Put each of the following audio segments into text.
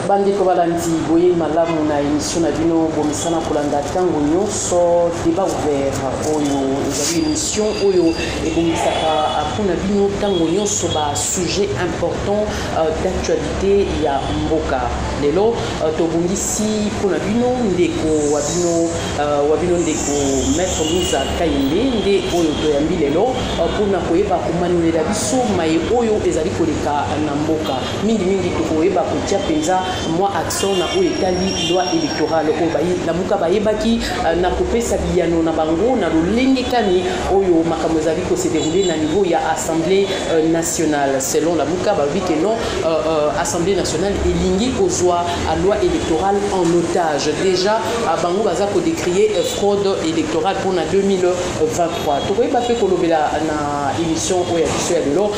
bandeko balandi boye malamu na emission na bino bomisana kolanda ntango nyonso debat ouvert oyo ezali emission oyo ebongisaka mpo na bino ntango nyonso basujet important Euh, d'actualité ya mboka lelo euh, tobongisi mpo na bino ndeko wa bino euh, wa bino ndeko maître musa kayembe nde oyo toyambi lelo mpo na koyeba komanulela biso maye oyo ezali koleka na mboka mingimingi tokoyeba kotia mpenza mwa accent na oyo etali loi électorale oyo lamuka bayebaki na kopesa biyano na bango na lolenge kani oyo makambo ezali ko se dérouler na niveau ya assemblée euh, nationale selon la muka balobi ke non euh, euh, assemblée nationale elingi kozwa loi électorale en otage déjà bango baza kodécrie fraude électorale mpo na 2023 tokoyeba mpe kolobela na émission oyo ya biso ya lelo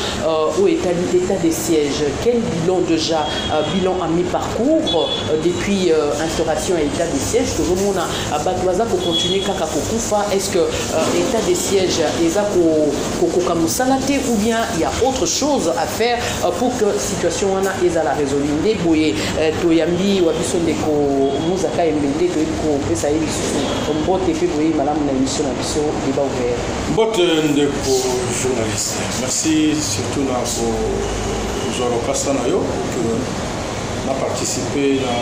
oyo etali état de siège quel bilan déjà bilan à mi parcours depuis instauration ya état de siège tozomona Bato baza ko continuer kaka kokufa, est-ce que euh, etat de siège eza kokoka mosala te ou bien il y a autre chose à faire euh, pour que situation wana ezala résolue nde boye euh, toyambi wa biso ndeko muzaka yembe nde toyebi kopesa ye lisusu mbote mpe boye malamu na émission na biso débat ouvert mbote ndeko journaliste merci surtout na kozwa lokasa na yo na participe na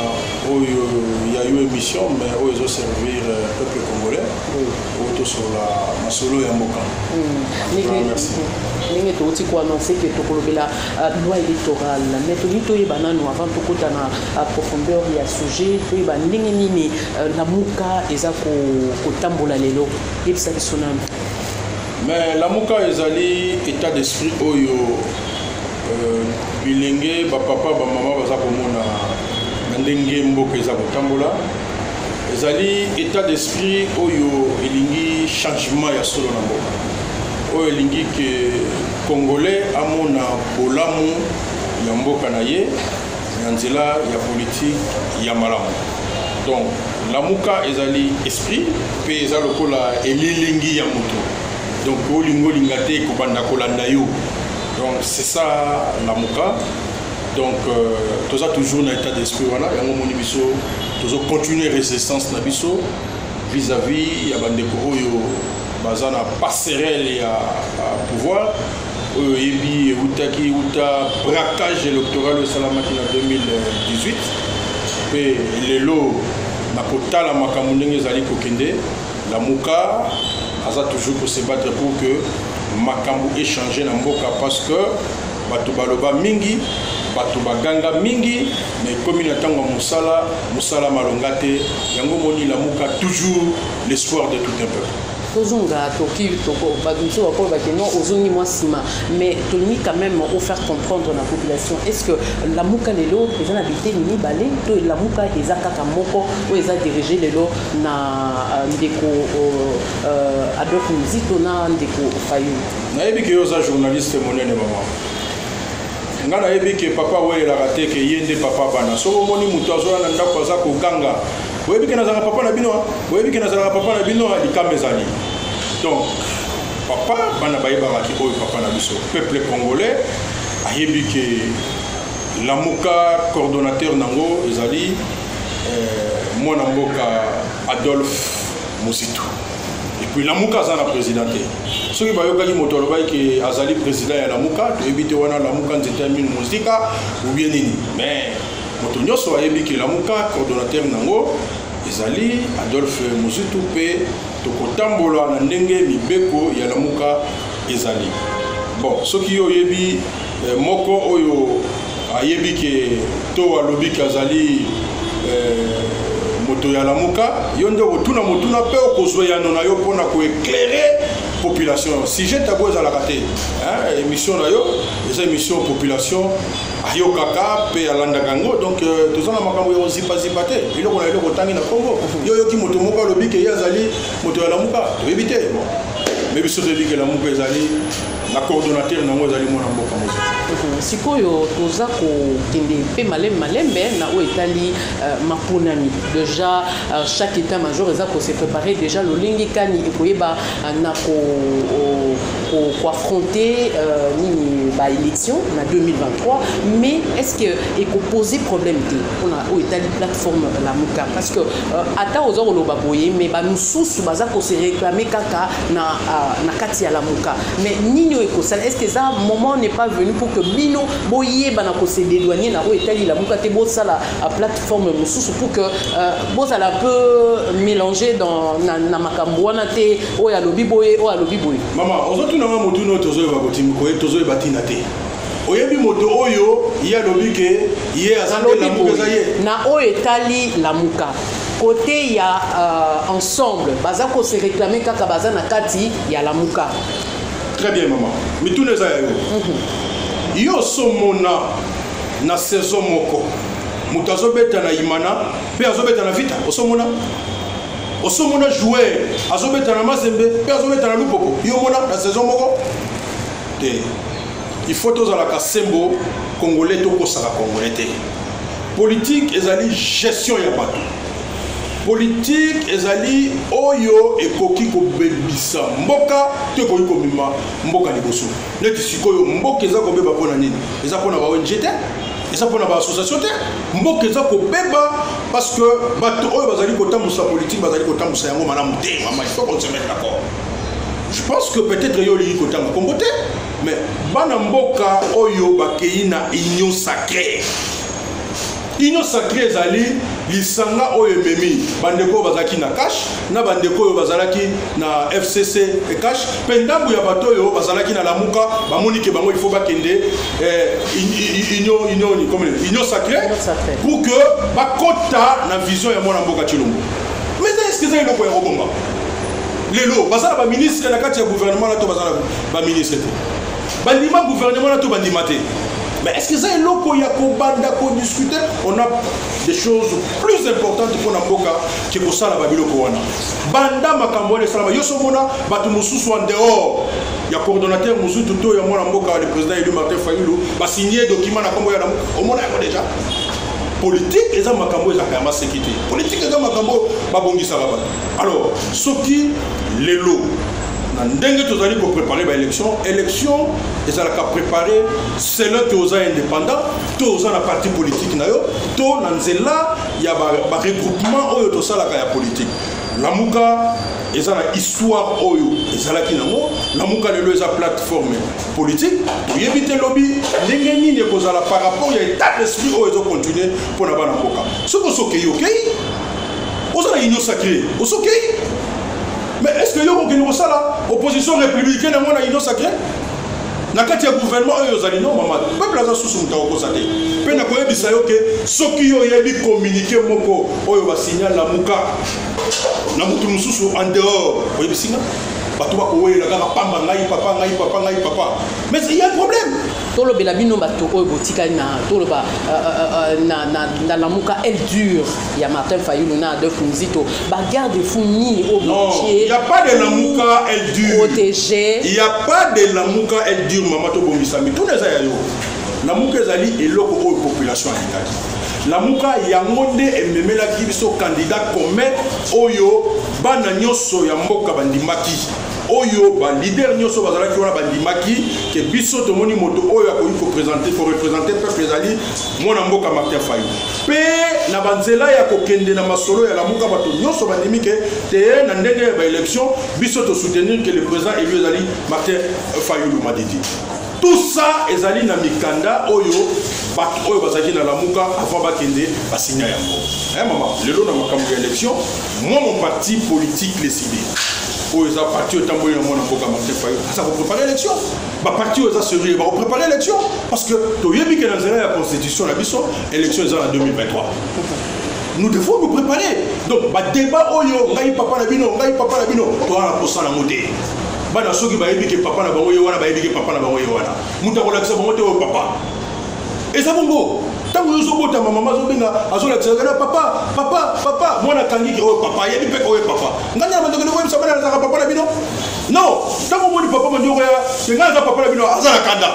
oyo ya yo émission mais oyo ezo servir euh, peuple congolais oyo tosolola masolo ya mboka ndenge touti koannonce ke tokolobela euh, loi électorale mais tolingi toyeba nano avant tokota na euh, profondeur ya sujet toyeba ndenge nini lamuka eza kotambola lelo yebisa biso nano mais lamuka ezali état d'esprit oyo Bilenge, ba papa, ba mama baza komona na ndenge mboka eza kotambola. Ezali etat d'esprit oyo elingi changement ya solo na mboka. Oyo elingi ke Congolais amona bolamu ya mboka na ye na nzela ya politique ya malamu. Donc lamuka ezali esprit mpe eza lokola elilingi ya moto donc olingi olinga te ekobanda kolanda yo donc c'est ça lamuka donc euh, toza toujours na état d'esprit wana yango omoni biso tozo continuer résistance na biso vis-à-vis ya bandeko oyo baza na passerelle ya pouvoir oyo oyebi eutaki uta braquage électoral oyo esalamaki na 2018 mpe lelo na kotala makambo ndenge ezali kokende Lamuka aza toujours ko se battre pour que makambo echange na mboka parce que bato baloba mingi bato baganga mingi na ekomi na ntango ya mosala mosala malonga te yango moni lamuka toujours l'espoir de tout un peuple tozonga toki bato mosusu bakoyo bake non ozongi mwa nsima mais tolingi quand même ofaire comprendre na population est ce que lamuka lelo eza na biteni mibale to lamuka eza kaka moko oyo eza dirige lelo na ndeko euh, adolphe muzito na ndeko fayulu nayebi ke yo oza journaliste monene mama nga nayebi ke papa awelelaka te ke ye nde papa bana soki omoni moto azoya na ndako aza koganga oyebi ke nazalaka papa na bino oyebi ke nazalaka papa na bino likama ezali donc papa bana bayebaka ki oyo papa na biso peuple congolais ayebi ke lamuka coordonnateur nango ezali Euh, mwana mboka adolphe mositu epuis lamuka aza na président te soki bayokaki moto alobaki ke azali président ya lamuka toyebi te wana lamuka nzete ya minu mosika ubie nini mais moto nyonso ayebi ke lamuka coordonnateur nango ezali adolphe mozitu mpe tokotambola na ndenge mibeko ya lamuka ezali bon soki yo oyebi Eh, moko oyo ayebi ke to alobi ke azali eh, moto ya lamuka yo nde okotuna motuna mpe okozwa yano na yo mpona koeklere population sujet tabu ezalaka te émission na yo eza émission population ayokaka mpe alandaka yango donc euh, toza na makambo ya kozipazipa te eloko na eloko otangi na congo yo oyoki moto moko alobi ke ye azali moto ya lamuka toyebi te mais biso toyebi ke lamuka ezali na coordonnateur nango ezali mwana mboka mozali mhm. sikoyo toza kokende mpe malembe malembe na oyo etali euh, maponami déjà euh, chaque état major eza kose préparer déjà lolenge kani ekoyeba euh, na ko koaffronter euh, nini baélection na 2023 mais est ce que ekopose problème te mpona oyo etali plateforme lamuka parce que euh, ata oza koloba boye mais bamosusu baza kose réclame kaka na, uh, na kati ya lamuka mais nini oyo ekosala est ce que eza moment n'est pas venu pour que bino boyeba na kose dédouanier na oyo etali lamuka te bosala uh, plateforme mosusu pour que uh, bozala un peu mélanger dans na, na makambo wana te oyo alobi boye oyo alobi boye mama ozotuna nga motuna oyo tozoyeba kotimi koye tozoyeba ntina te oyebi moto oyo ye alobi ke ye azalobi eza ye na oyo etali lamuka Cote ya uh, ensemble baza ko se reclamer kaka baza na kati ya lamuka. Très bien maman. Mituna eza ya yo. Mm -hmm. Yo somona na saison moko moto azobeta na imana mpe azobeta na vita osomona osomona joueur azobeta na mazembe mpe azobeta na lupoko yo omona na saison moko te il faut tozalaka sembo congolais tokosaka congolais te Politique ezali gestion ya bato. Politique ezali oyo ekoki kobebisa mboka to ekoki komema mboka liboso. Neti sikoyo mboka eza kobeba mpo na nini? Eza mpo na ba ONG te, eza mpo na ba association te. Mboka eza kobeba parce que bato oyo bazali kotambwisa politique bazali kotambwisa yango malamu te. Mama, il faut qu'on se mette d'accord. Je pense que peut-être yo olingi kotanga kombo te. mais bana mboka oyo bakei na union sacrée union sacrée ezali lisanga oyo ememi bandeko oyo bazalaki na cash na bandeko oyo bazalaki na fcc e cash mpe ndambo ya bato oyo bazalaki na lamuka bamoni ke bango ifo bakende eh, union union union sacrée pour que bakota na vision ya mwana mboka cilombo mais eske eza eloko ya kobomba lelo baza na baministre na kati ya gouvernement na to baza na ba ministre te bandima gouvernement na to bandima te mais est ce que eza eloko ya kobanda kodiscute on a des choses plus importantes mpo na mboka ke kosala babiloko wana banda makambo wana esalama yo somona bato mosusu en dehors ya coordonnateur mosusu to ya mwana mboka le président élu martin fayulu basigne document na nkombo ya lamu omona yango déjà politike eza makambo ezalaka ya maseki te politike eza makambo babongisaka bato alors soki lelo na ndenge tozali koprepare baélection élection ezalaka prépare selon te oza indépendant to oza na parti politique na yo to na nzela ya baregroupement oyo tosalaka ya politique lamuka eza na histoire oyo ezalaki nango lamuka lelo eza plateforme politique toyebi te lobi ndenge nini ekozala par rapport ya état d'esprit oyo ezocontinue mpo na bana mboka soki osokei okei oza na union sacré osokei Mais est-ce que yo kokende kosala opposition républicaine yango na union sacré na kati ya gouvernement oyo ozali no mama peuple aza susu moto akokosa te mpe nakoyebisa yo ke soki yo oyebi communiqué moko oyo basignal na muka na motu mosusu en dehors oyebisi nga bato bakowelela kaka pamba ngai papa ngai papa ngai papa mais il y a un problème tolobela bino bato oyo botikali na toloba euh, euh, euh, na lamuka elle dure Il y a Martin Fayulu na Adolphe Muzito. Bah garde fou mille au Non, il n'y a pas de Lamuka, elle dure. Protégé. Il n'y a pas de Lamuka, elle dure, maman to bomisami. Tout les aïeux. Lamuka ezali eloko oyo population alingaki. Lamuka yango nde ememelaki biso candidat commun oyo bana nyonso ya mboka bandimaki oyo balider nyonso bazalaki wana bandimaki ke biso tomoni moto oyo akoki kopresente korepresente peuple ezali mwana mboka martin fayu mpe na banzela ya kokende na masolo ya lamuka bato nyonso bandimi ke te na ndenge ya baélection biso tosoutenir ke le président élu ezali martin fayulu madidi tout ça ezali na mikanda oyo bato oyo bazalaki na lamuka avant bakende basinya yango e mama lelo na makambo ya élection moi mon parti politique lesidi oyo eza parti oyo etamboli na mwana mboka martin fayulu aza koprépare élection ba parti oyo eza sérieux bako préparer élection parce que toyebi ke na nzela ya constitution na biso élection eza na 2023 nous devons nous préparer donc badébat oyo ngai papa na bino ngai papa na bino towana kosala yango te bana soki bayebi ke papa na bango ye wana bayebi ke papa na bango ye wana moto akolakisa bango te oyo papa eza bongo ntango yo ozobotama mama azobenga azolakisa kana papa papa papa mwana akangi ke oyo papa ayebi mpe oyo papa ngai na bandokende koyebisa bana nazalaka papa na bino Non, tango omoni papa manyoko ya te ngai aza papa na bino aza na kanda.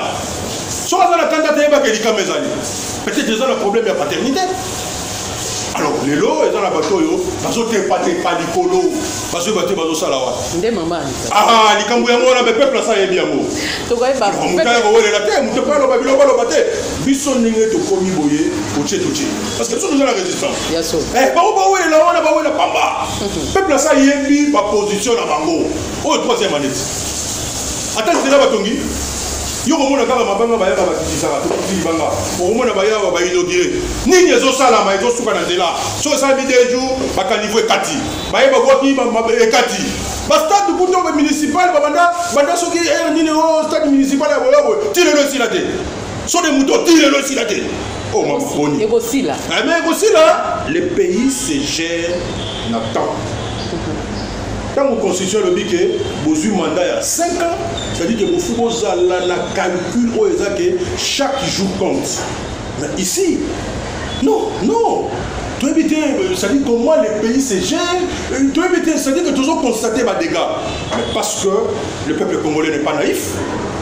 Soki aza na kanda te yebaka elikama ezali. Peut-être eza na problème ya paternité. Alors lelo eza na bato oyo bazotepa tepa likolo bazoyeba te bazosala wapi. Nde mama Anita. Ah likambo yango wana bepeuple asa yebi yango. Tokoyeba. Moto akowelela te moto epai aloba biloko aloba te biso ndenge tokomi boye otie totie. parce que biso toza na résistance eh, bango bawelela wana bawela pamba mhm. peuple asa ayebi baposition na bango oyo troisième année ata nzela batongi yo komona kaka mabanga bayaka bakitisaka tokiti libanga okomona bayawa bainogire nini ezosalama ezosuka na nzela so esalami de jour bakanivo ekati baye babwaki ekati bastade kuto municipal babanda banda soki eh, nini o oh, stade municipal ya boyoboye ti lelo esila te so de moto otire elo esila te o oh, maboni ekosila eh, mais ekosila le pays se gère na temps ntango constitution elobi ke bozwi mandat ya 5 ans c'est-à-dire ke bofu bozala na calcul oyo eza ke chaque jour compte mais ici non non toyebi te euh, c'est-à-dire comment le pays se gère euh, toyebi te c'est-à-dire que tozo constate badégats mais parce que le peuple congolais n'est pas naïf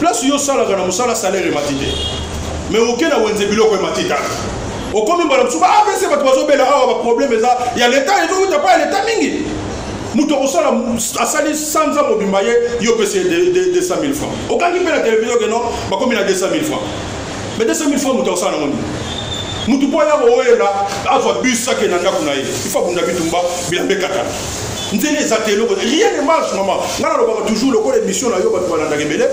place yo osalaka na mosala salaire emati te mais oke na wenze biloko emati kaka okomi mbala mosusu baapese bato bazobela awa baproblème eza ya leta ezowuta mpa ya leta mingi moto akosala asali sanza mobimba ye yo pesi 200 000 francs okangi mpe na televizio ke non bakomi na 200 000 francs mais 200 000 francs moto akosala nango nini moto mpo aya kowela azwa bus akenda ndako na ye ifo abunda bitumba bilamba ekatana nzela eza te eloko rien ne marche mama ngai nalobaka toujours lokola émission na yo bato balandaka ebele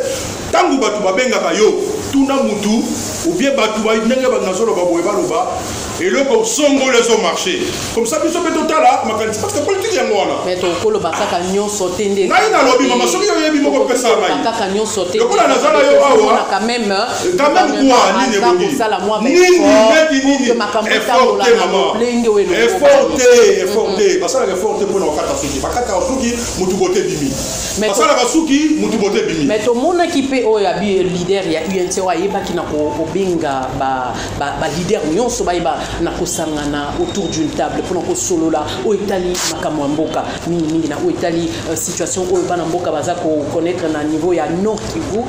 ntango bato babengaka yo tuna mutu obie bato ndenge bato nazoloba boye baloba eloko osongoli ezo marche comme ça biso mpe totala makanisi parce que politike yango wana okoloba kaka nyonso te nde ngai nalobi mama soki oyebi moko pesa ngai lokola naza na yo awa quand même quoi nini ebongi nini neti nini effort te maman effort te effort te basalaka effort te mpona bakata suki bakataka suki motu bote ebimi basalaka suki motu bote ebimi mais tomonaki mpe oyo abi leader ya unc oyo ayebaki na kobenga baleader nyonso bayeba na kosangana autour d'une table mpona kosolola oyo etali makambo ya mboka mingimingi na oyo etali euh, situation oyo bana mboka baza koconnaître na niveau ya nord kivu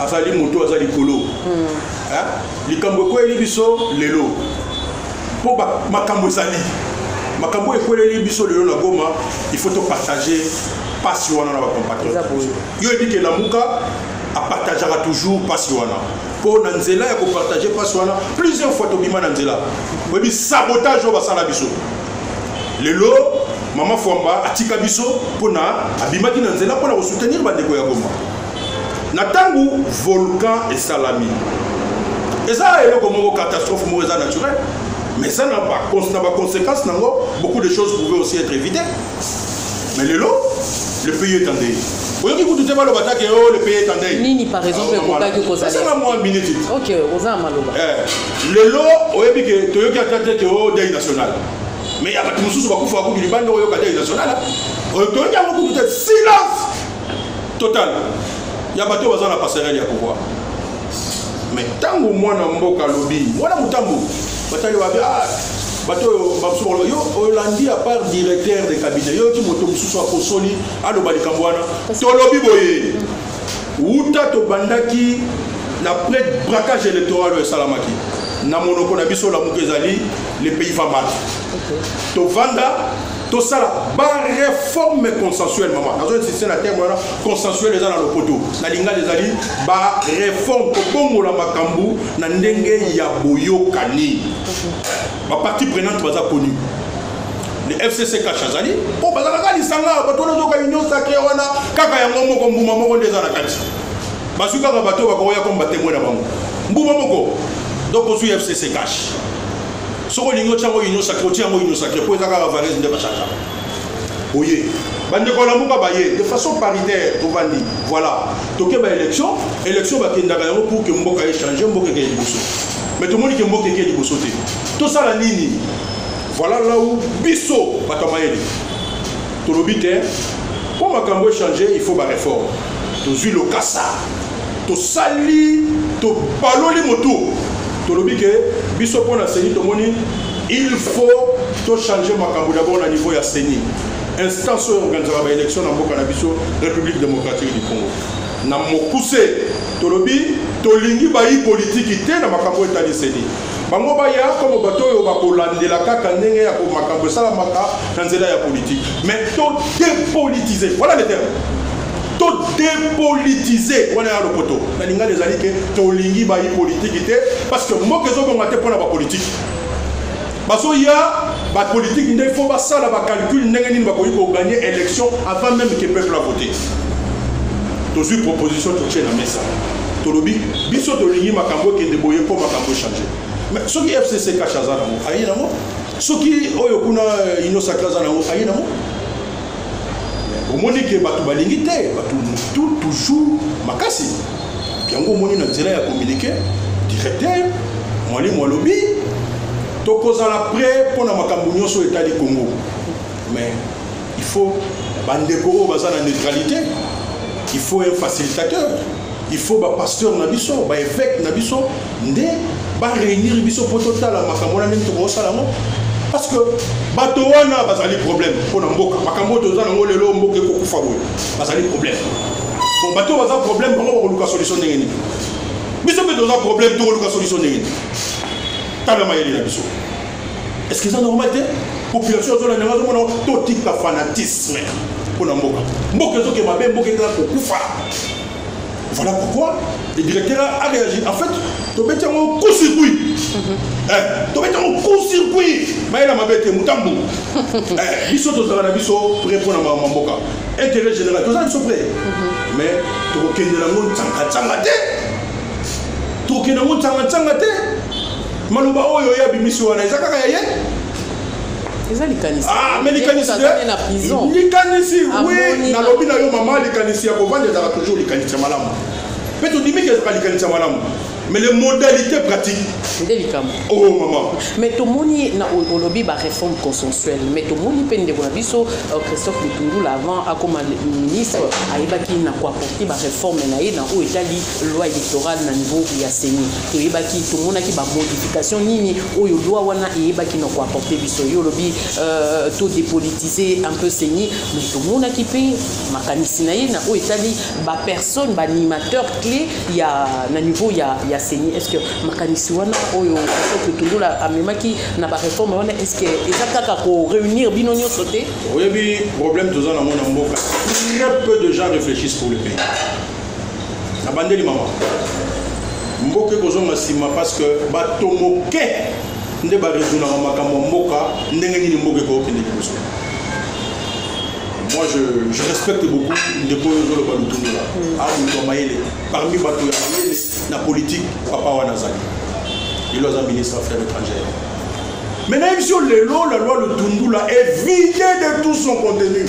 azali moto aza likolo hmm. eh? likambo ekweli biso lelo mpo makambo ezali makambo oyo ekweleli biso lelo na goma il faut topartage mpasi wana na bacompatriote yo ebiki elamuka apartageaka toujours mpasi wana mpo na nzela ya kopartage mpasi wana plusieurs fois tobima na nzela oyebi sabotage oyo basala biso lelo mama fwamba atika biso mpo na abimaki na nzela mpo na kosoutenir bandeko ya goma na ntango volcan esalami eza eloko moko catastrophe moko eza naturel mais eza na baconséquence na yango beaucoup de choses pouvaient aussi être évité mais lelo le pays est en deuil oyoki kutu te baloba take o oh, le pays est en deuil nini par exemple ah, ekokaki kozalaa mwa minute ok oza na maloba eh, lelo oyebi ke toyoki ata te ke o oh, deuil national mais ya bato mosusu bakufa bakutu libanda oyoka deuil national oyo toyoki yango kutu te silence total ya bato oyo baza na passerelle ya pouvoir mais ntango mwana mboka alobi mwana motambo batali wabi ah, bato oyo bamosusu yo olandi ya part directeur de cabinet yo ti moto mosusu akosoli aloba likambo wana tolobi boye wuta tobandaki na près braquage électoral oyo esalamaki na monoko na biso lamuka ezali le pays va mal tovanda tosala bareforme consensuel mama nazo insiste na terme wana consensuel eza na lopoto na lingala ezali bareforme kobongola makambo na ndenge ya boyokani bapartie prenante baza connu le fcc kasha azali mpo bazalaka lisanga bato wana ozoka union sacre wana kaka yango moko mbuma moko nde eza na kati bazwi kaka bato bakoya komba temwe na bango mbuma moko donc ozwi fcc kasha soki olingi otya yango union sacre otya yango union sacre mpo eza kaka varese nde bachangaka oye bandeko ya lamuka baye de façon paritaire tovandi voilà toke baélection élection bakendaka yango pour ke mboka echange mboka ekeye liboso mais tomoni ke mboka ekeye liboso te tosala nini voilà lau biso bato ya mayele tolobi te mpo makambo echange il faut baréforme tozwi lokasa tosali topaloli motu tolobi ke biso mpo na seni tomoni il faut tochanger makambo dabord na niveau ya seni instance oyo organisaka baélection na mboka na biso république démocratique du congo na mokuse tolobi tolingi bayi politiki te na makambo oyo etali seni bango baya komo bato oyo bakolandela kaka ndenge ya makambo esalamaka na nzela ya politiki mais to dépolitise voilà le terme to depolitise wana ya lopoto na lingala ezali ke tolingi bayi politiki te parce que mboka ezobonga te mpo na bapolitiki bazoya bapolitiki nde fo basala bacalcule ndenge nini bakoki koganye élection avant même ke peuple avote tozwi proposition totie na mesa tolobi biso tolingi makambo ekende boye mpo makambo echange mais soki fcc kasha aza nango aye nango soki oyo kuna euh, inosakre aza nango aye nango omoni ke bato balingi te bato mutu toujours makasi yango omoni na nzela ya communiqué directeur mwalimu alobi tokozala prêt mpo na makambo nyonso etali congo mais il faut bandeko oyo baza na neutralité il faut un facilitateur il faut bapasteur na biso baevêque na biso nde ba réunir biso mpo totala makambo wana ndenge tokosala yango parce que bato wana bazali problème mpo na mboka makambo oyo toza nango lelo mboka ekokufa boye bazali problème bon bato baza problème bango bakoluka solution ndenge nini biso mpe toza problème tokoluka solution ndenge nini tala mayele na biso est ce que eza normal te population azolanda yango azomona totika fanatisme mpo na mboka mboka ezoke mabe mboka ekala kokufa Voilà pourquoi le directeur a réagi. En fait, tobeti yango coup circuit mhm. eh, tobeti yango coup circuit mayela mabe te motambu eh, biso tozala na biso pré mpo na mama mboka intérêt général toza biso pré mhm. mais tokokendela yango ncangancanga te tokokenda yango ncangancanga te maloba oyo ye abimisi wana eza kaka ya ye eza likanisi ah, mais likanisi na prison likanisi oui nalobi na yo mama likanisi ya kovanda ezalaka toujours likanisi ya malamu mpe todimi ke ezalaka likanisi ya malamu mais les modalités pratiques nde likambo oh maman mais tomoni na olobi baréforme consensuelle mais tomoni mpe ndeko na biso euh, christophe lutundula avant akoma ministre ayebaki na koaporte baréforme na ye na oyo etali loi électorale na niveau ya seni toyebaki tomonaki bamodification nini oyo loi wana eyebaki na koapporte biso yo olobi euh, to dépolitise un peu seni mais tomonaki mpe makanisi na ye na oyo etali bapersonne baanimateur clé ya na niveau ya, ya seni est ce que makanisi wana oyo totondola amemaki na bareforme wana est ce que eza kaka koreunir bino nyonso te oyebi problème toza nango na mboka très peu de gens réfléchissent pour le pays nabandeli mama mboka ekozonga nsima parce que bato moke nde baresonaka makambo ya mboka ndenge nini mboka ekokende liboso moi je, je respecte beaucoup ndeko oyo ozoloba lutundola mm. a ah, moto ya mayele parmi bato ya mayele na politike papa wana azali ilo aza ministre affaire étrangère mais nayebisi yo lelo la loi lutundula est vide de tout son contenu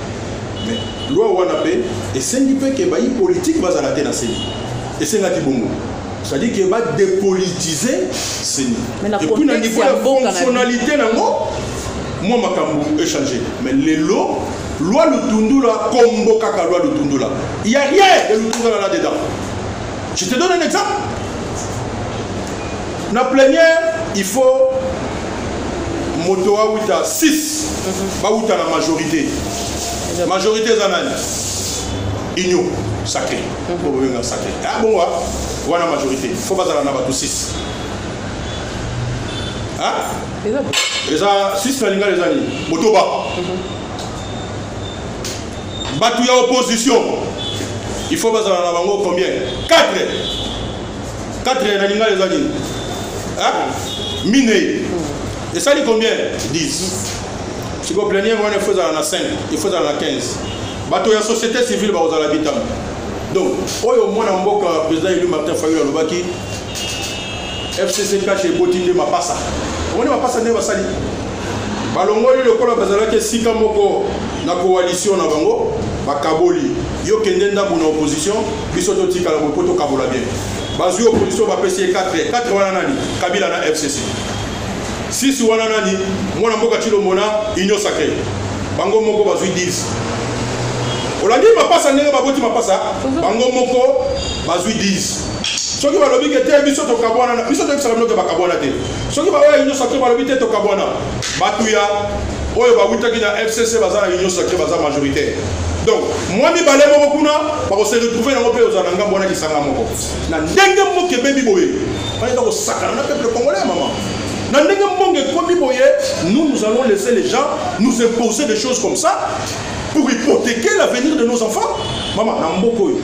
Mais loi wana pe esengi pe ke bayi politique bazala te na seni. Esengaki bongo. C'est-à-dire que ba dépolitiser seni. Et puis na niveau ya fonctionnalité nango mwa makambo échanger. Mais lelo loi lutundula kombo kaka loi lutundula. Il y a rien de lutundula là dedans. Je te donne un exemple. Na plénière, il faut moto awuta 6 mhm. bawuta na majorité. Majorité eza nani? Union sacré. Mhm. Bo benga sacré. Ah bon wa wana majorité. Faut bazala na bato 6. Hein? Eza eza 6 na lingala eza nini? Motoba. Mm -hmm. Batu ya opposition il faut bazala na bango combien 4 4 na lingala eza nini minei esali combien 10 siko pleniere wana ifo ezala na 5 ifo ezala na 15 bato ya société civile bakozala bitama donc oyo mwana mboka président élu martin fayulu alobaki fcc cash eboti nde mapasa omoni mapasa nde basali balongoli lokola bazalaki esika moko na coalition na bango bakaboli yo kende ndambo na opposition biso totikala boye mpo tokabola bien bazwi opposition bapesi ye 4 4 wana nani kabila na fcc 6 wana nani mwana mboka cilombo na union sacré bango moko bazwi 10 olandi mapasa ndenge baboti mapasa bango moko bazwi 10 soki balobi ke te biso tokabwana na biso toyebisaka bino ke bakabwana te soki baoyo ya union sacre balobi te tokabwana bato ya oyo bawutaki na fcc baza na union sacre baza majoritaire donc mwa mibale moko kuna bakose retrouve yango mpe ozala na ngambo wana lisanga moko na ndenge mboka ebebi boye bayeba kosakana na peuple congolais ya mama na ndenge mbongo ekomi boye nous nous allons laisser les gens nous imposer des choses comme ça pour hypothéquer l'avenir de nos enfants mama na mboka oyo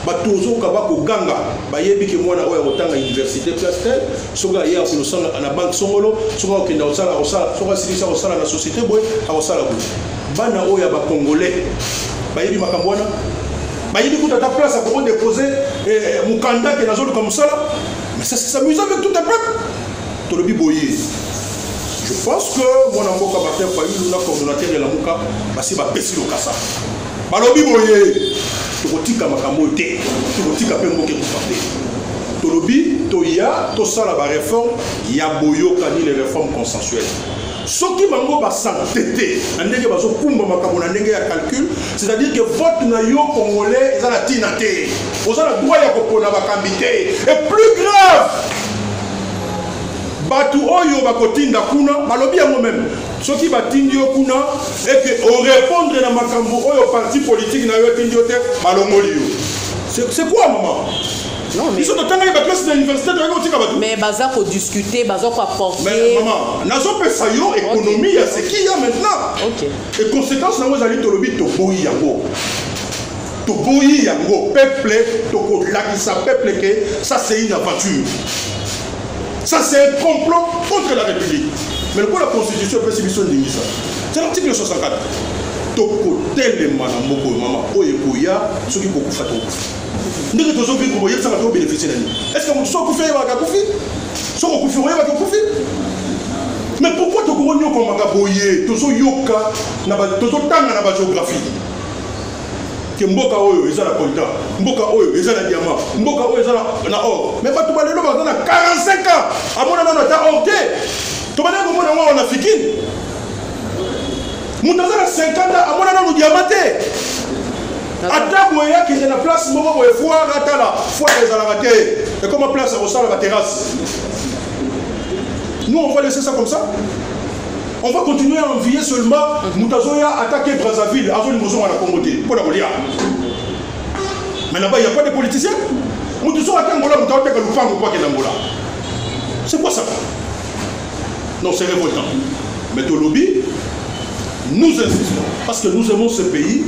Batu ozo kaba ko ganga bayebi ke mwana oyo akotanga universite classe tel soki aye akolosanga na banque songolo soki akokenda kosala akosala soki asilisa kosala na societe boye akosala boye bana oyo ya ba congolais bayebi makambo wana bayebi kuta ata place akoko depose eh, eh, mokanda ke nazoluka mosala mais ça c'est amusant avec tout un peuple tolobi boye je pense que mwana mboka martin fayulu na coordonnateur ya lamuka basi bapesi lokasa balobi boye tokotika makambo oyo te tokotika mpe mboka ekufa te tolobi toya tosala bareforme ya boyokani le reforme consensuelle soki bango basante te na ndenge bazokumba makambo na ndenge ya calcul c'est-à-dire que vote na yo congolais eza na ntina te oza na droit ya kopona bakambi te et plus grave bato oyo bakotinda kuna balobi yango meme soki batindi yo kuna ete orepondre na makambo oyo parti politike na yo etindi yo te balongoli yo c'est quoi maman biso totangaki baklase na université toyaki kotika bato mais baza kodiscute baza koapportemama nazopesa yo économie ya seki ya maintenant e conséquence yango ezali tolobi toboyi yango toboyi yango peuple tokolakisa peuple ke ça c'est une aventure Ça c'est un complot contre la République. Mais le coup la constitution peut s'y ça. C'est l'article 64. tokotelema na moko oyo mama oyo ekoya soki kokufa tokufa ndenge tozoki koboyebisaka to bénéficie na nini est ce que moto soki okufi oyebaka kufi soki okufi oyebaka okufi mais pourquoi tokongo nyokomaka boye tozoyoka tozotanga na bagéographie ke mboka oyo eza na coltan mboka oyo eza na diamant mboka oyo eza na or me bato balelo baza na 45 ans amona nano ata or te tobandaki komona yango awa na fikine moto aza na 50 ans amona nano diamant te ata boye akende na place moko boye foire atala foire ezalaka te ekoma place ya kosala baterrasse nous on va laisser ça comme ça on va continuer à envier seulement moto azoya atake brazzaville azolinga ozonga na congo te mpo na kolia mais là-bas il n'y a pas de politicien moto soki ake angola moto aoteka lupango mpo akenda angola c'est quoi ça non c'est révoltant mais tolobi nous insistons parce que nous aimons ce pays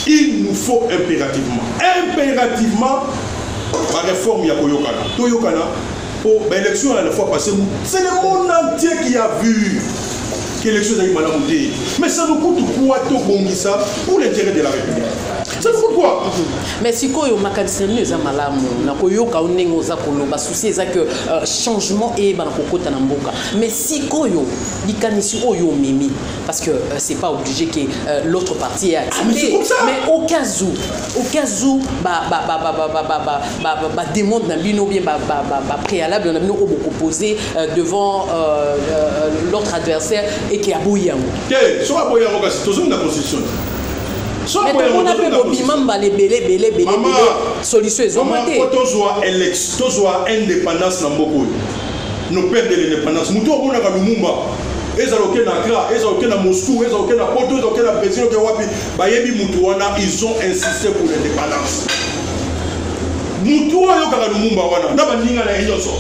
il nous faut impérativement impérativement baréforme ya koyokana toyokana po ba élection ya la fois passé c'est le monde entier qui a vu que élection ezalaki malamu te mais ça nous coûte quoi tobongisa pour l'intérêt de la république ça nous coûte quoi mais sikoyo makanisi na bino eza malamu na koyoka yo ndenge oza koloba souci eza que euh, changement eyebana kokota na mboka mais sikoyo likanisi oyo omemi parce que euh, c'est pas obligé que euh, l'autre partie est accepté ah, mais au cas où oke azu bademande na bino bien bapréalable na bino oyo bokopose euh, devant euh, euh, l'autre adversaire eke aboyi yango te soki aboyi yango kasi tozongi na constitution tomona mpe bobima mbala ebele ebele ebele solution ezwama te tozwa election tozwa indépendance na mboka oyo nos pères de l'indépendance moto omonaka lumumba ezala oke na accra ezala oke na moscou ezala oke na poto ezala oke na brésil oke wapi bayebi mutu wana ils ont insisté pour l'indépendance mutu oyo ayokaka lumumba wana na baninga na ye nyonso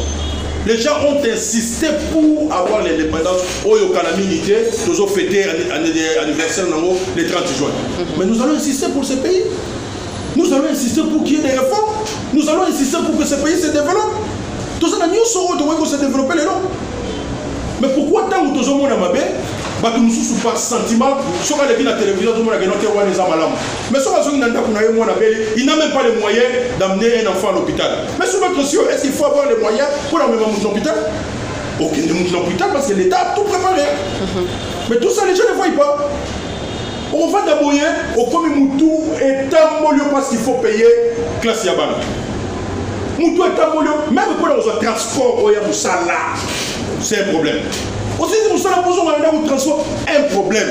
les gens ont insisté pour avoir l'indépendance oyo kala mingi te tozofete anniversaire nango le 30 juin mais nous allons insister pour ce pays Nous allons insister pour qu'il y ait des réformes. Nous allons insister pour que ce pays se développe. Tout ça, nous saurons comment se développer les noms. Mais pourquoi tant que nous avons mabe, bato mosusu par sentiment soki aleki na télévision azomona keno te wana eza malamu mais soki azongi na ndako na ye mwana beli il n'a même pas les moyens d'amener un enfant à l'hôpital mais sur notre cieux est ce qu'il faut avoir les moyens pour amema moto na hôpital okende moto na hôpital parce que l'état a tout préparé mhm. mais tout ça les gens ne voient pas Ovanda boye okomi mutu etamboli yo parce qu'il faut payer classe ya bana. Mutu etamboli yo même pona kozwa transport oya musala. C'est un problème. Osisi musala pozo ngana ndako transport un problème.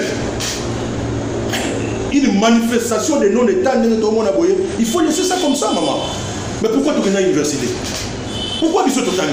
Une manifestation de non état ndenge tomona boye, il faut laisser ça comme ça maman. Mais pourquoi tu es à l'université Pourquoi biso totani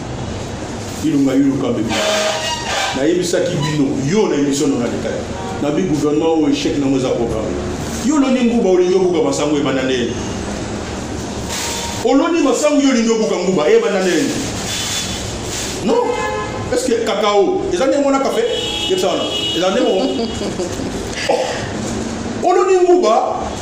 ilunga iluka bebe nayebisaki bino yo na emission na nalekaki nabi gouvernement oyo echec nango eza programme yo oloni nguba olingi obuka masango ebanda nde yende oloni masango yo olingi obuka nguba ebanda nde yende non est ce que kakao eza ndenge mona kafe yebisa wana eza ndenge moko oloni nguba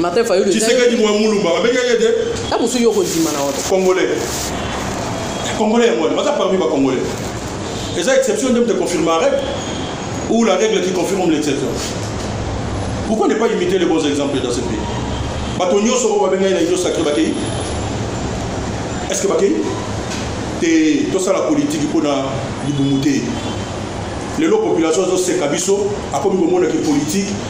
Martin Fayulu. Tshisekedi mwa mulumba babengaki ye te. Ta mosusu yo okondima na oto. Congolais. Congolais yango wana baza parmi ba Congolais. Eza exception nde moto econfirme la règle ou la règle qui confirme l'exception. Pourquoi ne pas imiter les bons exemples dans ce pays? Bato nyonso oyo babengaki na union sacrée bakei? Est-ce que bakei? Te tosala politiki mpo na libumu te. lelo population azoseka biso akomi komona ke politike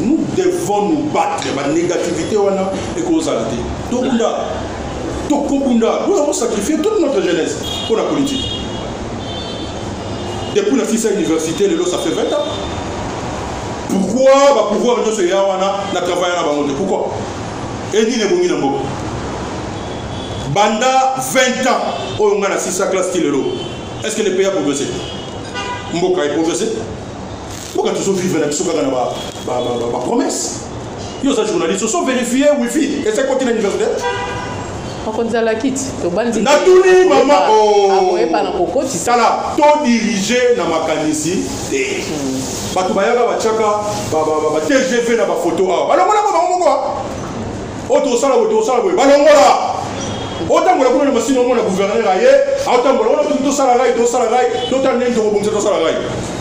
nous devons nous battre banégativité wana ekozala te tobunda tokobunda mpona kosacrifie toute notre jeunesse mpo na politique depuis nasisa université lelo ça fait 20 ans pourquoi bapouvoir nyonso eya wana na travaille na bango te pourquoi enini ebongi na mboka banda 20 ans oyo ngai nasisa classe ti lelo est ce que le pays a progressé mboka eprogressé mboka tozo vivre na biso kaka na bapromesse yo oza journaliste oso verifie wifi eza ekoti na université akozala kiti tobanzi natuni mama akoyeba na kokotisa sala todirige na makanisi te hmm. bato bayaka batiaka batgv na bafoto awa balongolaka bango moko oyo tokosala boye tokosala boye balongola otambola kuna na masini omona guverner aye aotambola wana tosala rai tosala rai totala ndenge tokobongisa tosala rai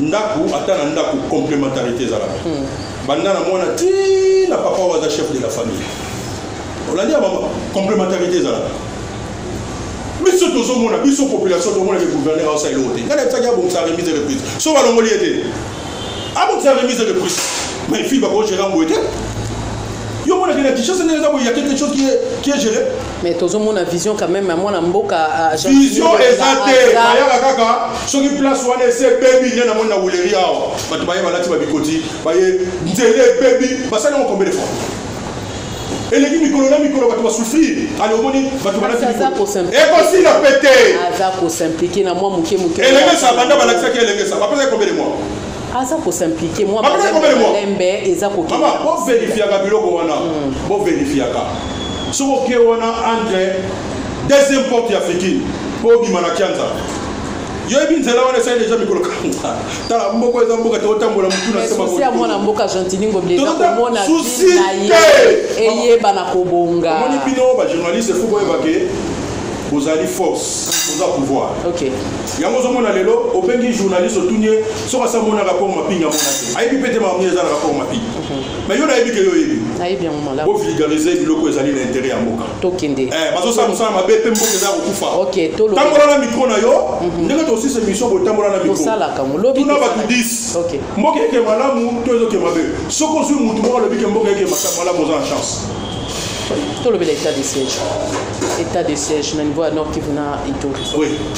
ndako ata na ndako complémentarité ezalaka hmm. banda na mwana ti na papa oyo aza chef de la famille olandi ya mama complémentarité ezalaka biso tozomona biso population tomona ke gouverneur aosa eloko te ngai natisaki abongisa remise de prise so balongoli ye te abongisa remise de prise mais fille bakogera mboye te yo monakena kinshasa ndenge eza boye ya quelque chose qui est géré mais tozomona vision quand même ya mwana mboka ah, vision eza te bayaka kaka soki place wana ese ebebi nde namoni na wuleri awa bato baye balati babikoti baye nzela ebebi basali yango combien de fois eleki mikolo na mikolo bato basufrir ale omoni bato balatiekosila pete aza kosimplike na mwa moke moke elengesa banda balakisaki elengesa bapesaki combien de mois aza ko s'impliquer mwa malembe eza kokende mama bo verifiaka biloko wana hmm. bo verifiaka soki oke wana entre deuxième porte ya fikini mpo obima na kianza yoyebi nzela wana esali deja mikolo kanga tala mboka eza mboka tokotambola motu na semaosi ya mwana mboka gentiningo bilekomona na ye eyeba na kobonga omoni bino bajournaliste fo boyebake bozali force boza pouvoir yango ozomona lelo obengi journaliste otuni ye soki asa mona rapport mapingi amona te ayebi mpe te makambo eza na rapport mapingi mais yo nayebi ke yo oyebi bovulgarise biloko ezali na intérêt ya mboka tokende eh, bazosala mosala mabe mpe mboka eza ya kokufa tambola na mikro na yo mhm. ndenge tosisa émission botambola na mikrotuna bato 10 mboka eke malamu to ezoke mabe soki ozwi motu moko alobi ke mboka eke malamu oza na chance tolobela état de siège état de siège na niveau ya nord kivu na ituri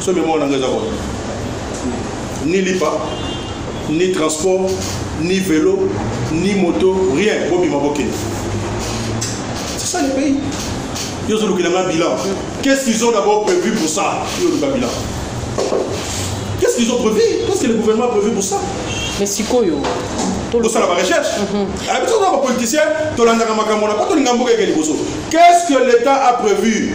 so memoire na ngai eza kona ni lipa ni transport ni velo ni moto rien bobima bokende c'est ça le pays yo ozolukela nga bilan qu'est-ce qu'ils ont d'abord prévu pour ça yo oluka bilan qu'est-ce qu'ils ont prévu qu'est-ce que le gouvernement a prévu pour ça mais sikoyo tosala barecherche mhm. ah, biso toza bapoliticien tolandaka makambo na po tolinga mboka eke liboso qu'est ce que l'état a prévu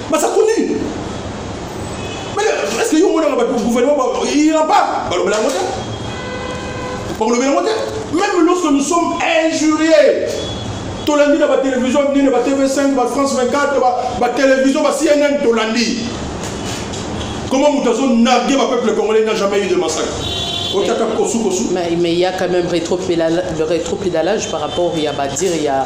masakuni est ce que yo omonaka bato gouvernement ira pas balobela yango te bakolobela yango te même lorsque nous sommes injuriés tolandi na batelevizio minene ba tv5 ba france 24 batelevizio ba cnn tolandi comment moto azonarge bapeuple congolais n'a jamais eu de massacre mais il y a quand même rétropédalage par rapport ya badire ya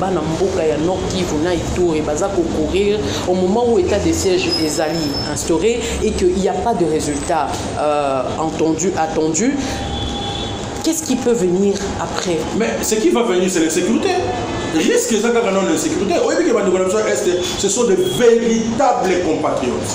bana mboka ya nord kivu na ituri baza kocourir au moment où état de siège ezali instauré et qu'il n'y a pas de résultat euh, entendu attendu qu'est-ce qui peut venir après mais ce qui va venir c'est l'insécurité risque eza kaka nano insécurité oyebi ke bandeko na biso ya est ce sont de véritables compatriotes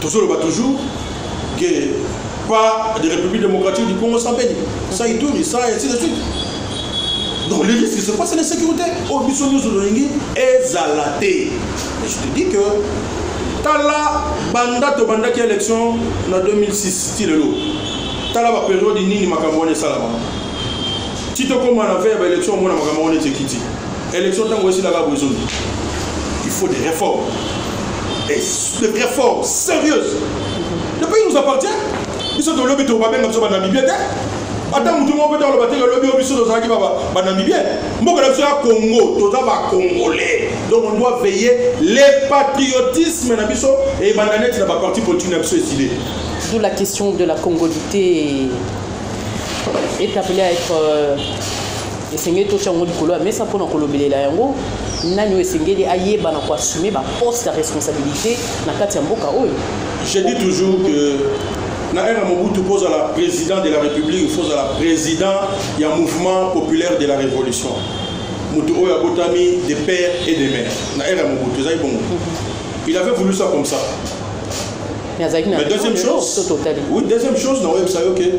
tozoloba toujours que pas de république démocratique du congo sans beni sans ituri sans ainsi de suite donc les risques c'est quoi c'est l'insécurité oyo biso nyonso tolingi ezala te mais je te dis que tala banda tobandaki élection na 2006 ti lelo tala baperiode nini makambo wana esalama ti tokóma na ve ya baélection omona makambo wana ete ekiti Election tango esila kaka boye zomi. Il faut des réformes. Et des réformes sérieuses. Le pays nous appartient. Biso to lobi to babenga biso ba Namibie te. Ata mutu moko ta loba te ke lobi biso to zaki ba ba Namibie. Mboka na biso ya Congo, to za ba Congolais. Donc on doit veiller les patriotisme na biso et bandanette na ba parti politique na biso esile. D'où la question de la congolité est appelée à être euh, esengeli totya yango likolo ya mesa mpona kolobelela yango nani oyo esengeli ayeba na koassume baposte ya responsabilité na kati ya mboka oyo je dis toujours que na ère ya mobutu mpo ozala président de la république fo ozala président ya mouvement populaire de la révolution moto oyo abotami de père et de mère na ère ya mobutu ezali bongo mhm. il avait voulu ça comme ça mais deuxième chose oui deuxième chose na oyebisa yo ke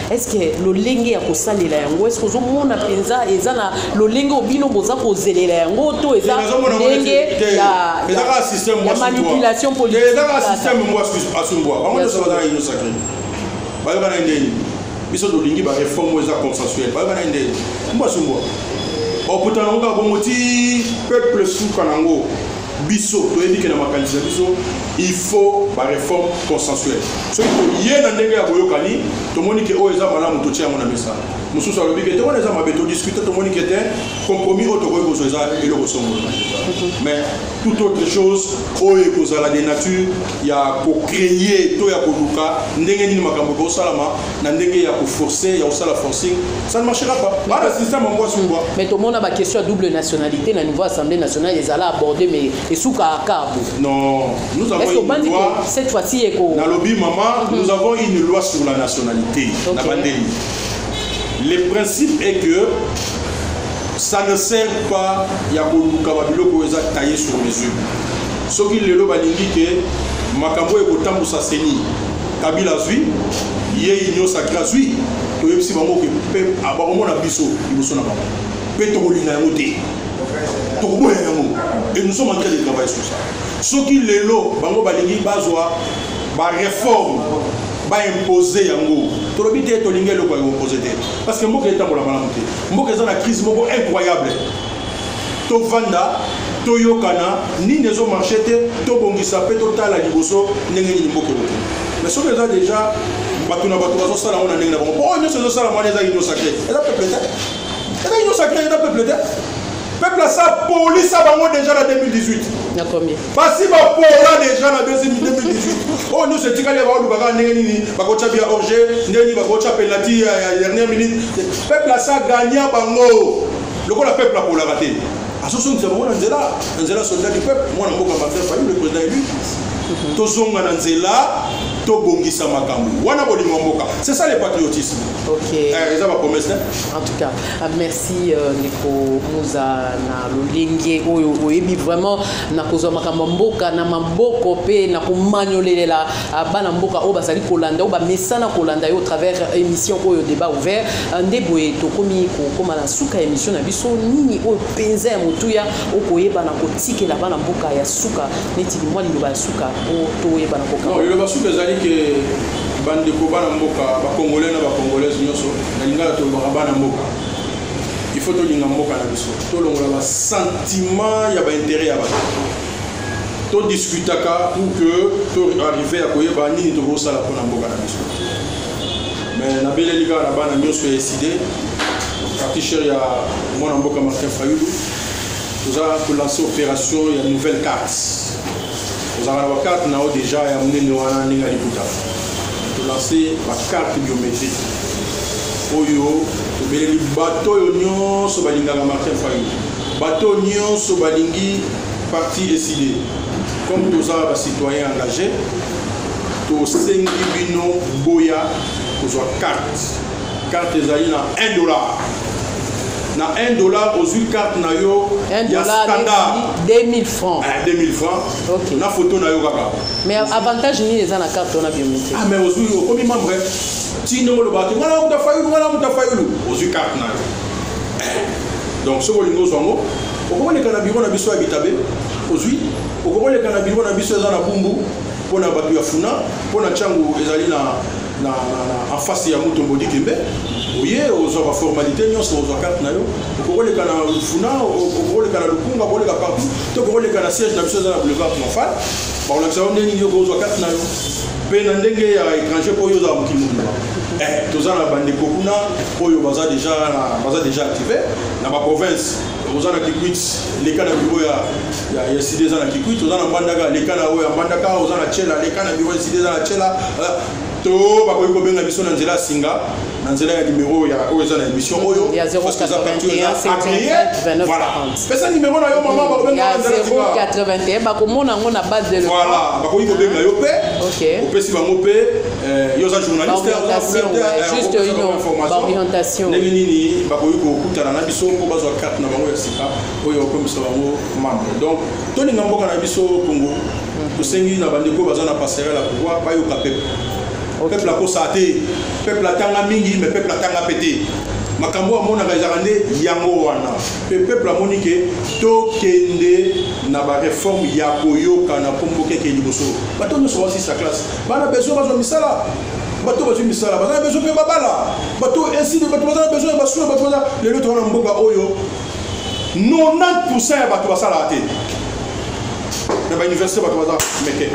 est-ce que lolenge ya kosalela yango est-ce que ozomona mpenza eza na lolenge oyo bino boza kozelela yango to eza lolenge ya manipulation politikeezaka systeme mbo asumbwa bango nyonso bazaka union sacré bayoka na ndeni biso tolingi bareforme oyo eza consensuel bayoka na ndeni mbo asumbwa okutana ngo kaka bongo ti peuple suka na ngo Biso toyebi ke na makanisi na biso il faut ba reforme consensuelle. Soki toye na ndenge ya boyokani, tomoni ke oyo eza malamu totie yango na mesa. Mosusu alobi ke te wana eza mabe, todiscute tomoni ke te compromis oyo tokoki kozwa eza eloko songolo. Mais toute autre chose oyo ekozala de nature ya ko creer to ya koluka ndenge nini makambo ekosalama, na ndenge ya ko forcer ya kosala forcing ça ne marchera pas nga na système ya mwasi mbwa mais tomona ba question ya double nationalité na niveau assemblée nationale ezala abordé mais esuka akabu non nous avons une loi cette fois-ci eko nalobi maman nous avons une loi sur la nationalité okay. na bandeli le principe est que ça ne sert pas ya koluka babiloko oyo eza taille sur mesure soki lelo balingi ke makambo oyo ekotambusa seni Kabila azwi ye union sacré azwi toyebisi bango ke mpe bakomona biso liboso na bango mpe tokolinga yango te tokoboya yango et nous sommes en train de travailler sur ça soki lelo bango balingi bazwa bareforme baimpose yango tolobi te tolingi eloko ya impose te parce que mboka etambola malamu te mboka eza na crise moko incroyable tovanda toyokana nini ezo marche te tobongisa mpe totala liboso ndenge nini mboka ekokende mais soki eza déjà bato na bato bazosala yango na ndenge na bango mpo oyo nyonso ezosala mwana eza union sacré eza peuple te eza union sacré eza peuple te peuple asapolisa bango déjà na 2018 basi bapola déjà na 2018 oyo nyonso etikali baoluka kaka ndenge nini bakotya bia orge ndenge nini bakotya penalti ya dernière minute peuple asagania bango lokola peuple akolaka te azozongisa bango na nzela na nzela soldat du peuple mwana mboka martin fayulu le président élu mhm. tozonga na nzela tobongisa makambo wana bolingo ya mboka c'est ça le patriotisme okay. eh, eza bapromesse te en tout cas ah, merci euh, ndeko moza na lolenge oyo oyebi vraiment na kozwa makambo ya mboka na maboko mpe na komanyolelela Ah, bana mboka oyo bazali kolanda oyo bamesana kolanda yo au travers euh, émission oyo débat ouvert euh, nde boye tokomi kokóma na suka ya émission na biso nini oyo mpenza ya motuya okoyebana kotikela bana mboka ya suka neti limwa liloba ya suka po toyebana kokaliloba suka ezali ke bandeko bana mboka bacongolais na bacongolaise nyonso na lingala tolobaka bana mboka il faut tolinga mboka na biso tolongola basentiment ya baintérêt ya bato to discutaka pour que to arrive ya koyeba nini tokosala mpona mboka na biso mais nabeleli kaka na bana nyonso ya eside parti cher ya mwana mboka martin fayulu toza kolancer opération ya nouvelle carte ozalaka na bacarte na yo déjà ya monene wana ndenge ya liputa tolancer bacarte biométrique oyo tobeleli bato oyo nyonso balingaka martin fayulu bato nyonso balingi Parti esili comme toza ba citoyens engagés tosengi bino boya kozwa carte carte ezali na 1 dollar na 1 dollar ozwi carte na yo ya standard 2000 francs eh, 2000 francs okay. na photo na yo kaka mais avantage nini eza na carte wana biométrique ah mais ozwi okomi membre tino oloba te ngana muta fayulu ngana muta fayulu ozwi carte na yo eh, donc soki olingi ozwa yango okokoleka na biro na biso ya bitabe ozwi okokoleka na biro na biso eza na bumbu mpo na bato ya funa mpo na ntango ezali na na afasi ya moto mbodi kembe oye ozwa baformalité nyonso ozwa karte na yo okokoleka na funa okokoleka na lukunga okoleka partout to okokoleka na siège na biso eza na boulevard triomphal bakolakisa yo ndenge nini okozwa karte na yo mpe na ndenge ya étranger mpo oyo ozala mokili mobima eh, toza na bandeko kuna oyo baza deja active na baprovince oza na kikwit leka na biro ya, ya, ya sida eza na kikwit oza na mbandaka leka na oyo ya mbandaka oza na chela leka na biro ya sida eza na chela euh, to bakoki kobenga biso na nzela ya singa na nzela ya nimero ya oyo eza na émission oyo pesa nimero na yo mama bakobenga bakomona yango na base de voilà bakoki kobenga yo mpe opesi bango mpe Eh, yo oza journaliste juste orientation ndenge nini bakoki kokutana na biso mpo bazwa carte na bango ya sika oyo okomisa bango membre donc tolinga mboka na biso congo mhm. tosengi na bandeko baza na passerel ya pouvoir bayoka peple peple akosa te peple atanga mingi mais peple atanga mpe te makambo oyo amonaka ezalaka nde yango wana mpe peuple amoni ke tokende na bareforme ya koyokana mpo mboka ekei liboso bato nyonso basisa classe Bana besoin bazwa misala bato bazwi misala baza na besoin mpe babala bato esili bato baza na besoin ya basoin bato baza lelo towana mboka oyo 90 ya bato basalaka te na bauniversité bato baza meke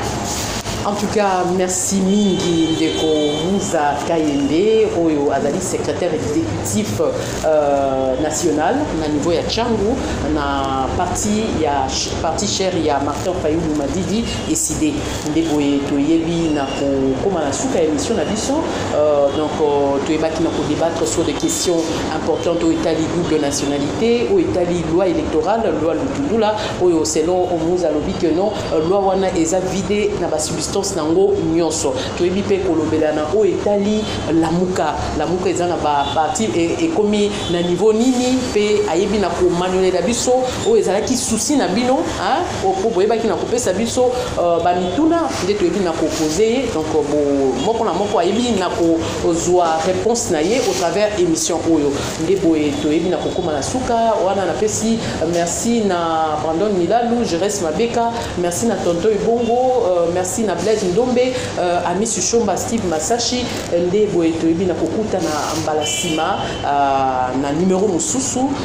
En tout cas, merci mingi ndeko Muza Kayende oyo azali secrétaire exécutif euh, national na niveau ya Changu na parti ya parti cher ya Martin Fayulu Madidi Ecide nde boye toyebi na kokoma na suka ya émission na biso euh, donc euh, toyebaki na kodebattre sur des questions importantes oyo etali double nationalité oyo etali loi électorale loi lutundula oyo selon omuz alobi que non euh, loi wana eza vide na basubstance na yango nyonso toyebi mpe kolobela na oyo etali lamuka lamuka eza na baparti e, ekomi na niveau nini mpe ayebi na komanyolela biso oyo ezalaki susi na bino po boyebaki na kopesa biso euh, bamituna nde toyebi na kopose ye donc euh, moko na moko ayebi na kozwa réponse na ye au travers émission oyo nde boye toyebi na kokóma na suka wana napesi euh, merci na brandon milalu jerese mabeka merci na tonto ebongo merci na blaise ndombe amisi shomba steve masashi nde boye toyebi na kokutana mbala nsima na numero mosusu